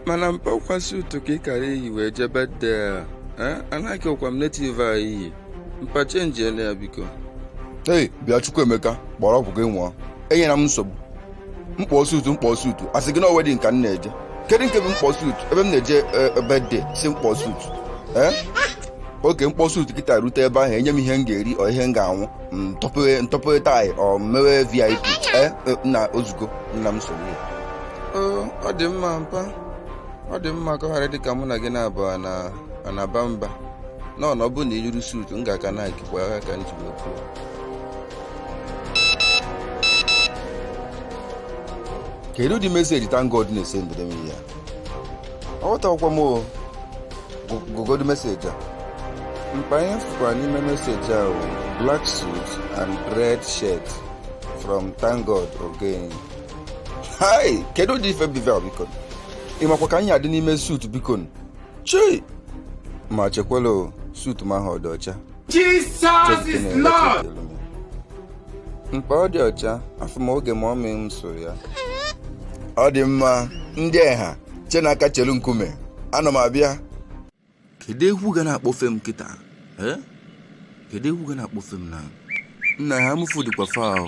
mana mpa ọkwa suit ka ị kara iyi wee jee birthday a Eh, anaghị ọkwa m native a iyi mpa chenjienụ ya biko hei bịa chukwuemeka kpọrọ ọgwụ gị ṅụọ enyela m nsogbu m kpọ suit m kpọ suit asị gị na wedding ka m na-eje kedu nke bụ m kpọ suit ebe m na-eje birthday sị m kpọ suit ee okay m kpọ suit kịta rute ebe ahụ enye m ihe m ga-eri ọ ihe m ga-aṅụ m tọpụ tie ọ mewe vip ee e, nna ozugo nna m sorry Ee, ọ dị mma mpa ọ dị mma ka ọ ghara dịka mụ na gị na-abụ a na-aba mba nọ na ọ bụrụ na iyiri suit m ga-aka na akikwa ya ka m ji wee kwuo kedu ụdị message thankgod na-esendịrị m ya aghọtakwa m o Gu- gụgodu message a mpa ihe m fụkwara n'ime message a bụ black suit and red shirt from thankgod ogenyi hai kedu ụdị ife bụ ive a biko ị makwa ka m ya-adị n'ime suit biko chei ma chekwala o, suit m ahụ ọ dị ọcha Jesus is Lord! Mpa ọ dị ọcha, afụ m oge mummy m sụ ya. Ọ dị mma, ndị Eha, chenụ aka chelu Nkume, ana m abịa. Kedu egwu ga na-akpọfe m kịta? Kedu egwu ga na-akpọfe m na? Nna Eha-Amufu dịkwa far o.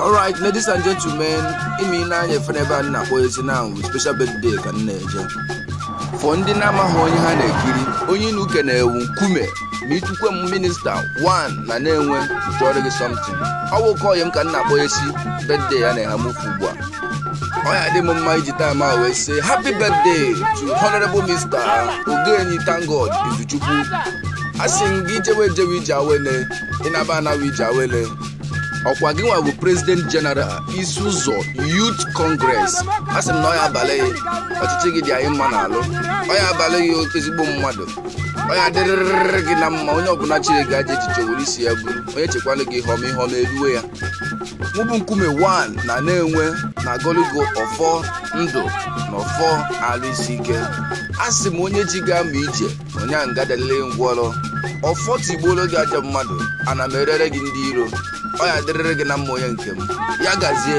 alright ladies and gentlemen ime ile anya efe n'ebe a m na-akpọ ezi na ahụ special birthday ka m na-eje for ndị na-amaghị onye ha na-ekiri onye inu uke na-ewu nkume ma ị tukwe m minister 1 na nenwe m tụọrọ gị something ọ nwoke ọyị m ka m na-akpọ esi birthday ya n'eha-amufu ugbu a ọ ya-adị m mma iji time a wee sị happy birthday to honorable mr ogenyi thankgod izuchukwu asị m gị ị jewe ejewe ije awele ị naba anawa ije awele ọkwa gịnwa bụ president general isi-uzo youth congress asị m na ọ ya-abalị gị ọchịchị gị dị anyị mma n'alụ ọ ya-abalị gị oke ezigbo mmadụ ọ ya-adịrịrị gị na mma onye ọbụla cheere gị ajọ echiche were isi ya buru onye chekwalị gị ihe ọma ihe ọma eruwe ya mụ bụ nkume 1 na nenwe na-agọlị gị ọfọ ndụ na ọfọ alụ isi ike asị m onye ji ga-ama ije onye a ga-adalili ngwọrọ ọfọ tigbuoro gị ajọ mmadụ ana meriere gị ndị iro ọ ya-adịrịrị gị na mma onye nke m ya gazie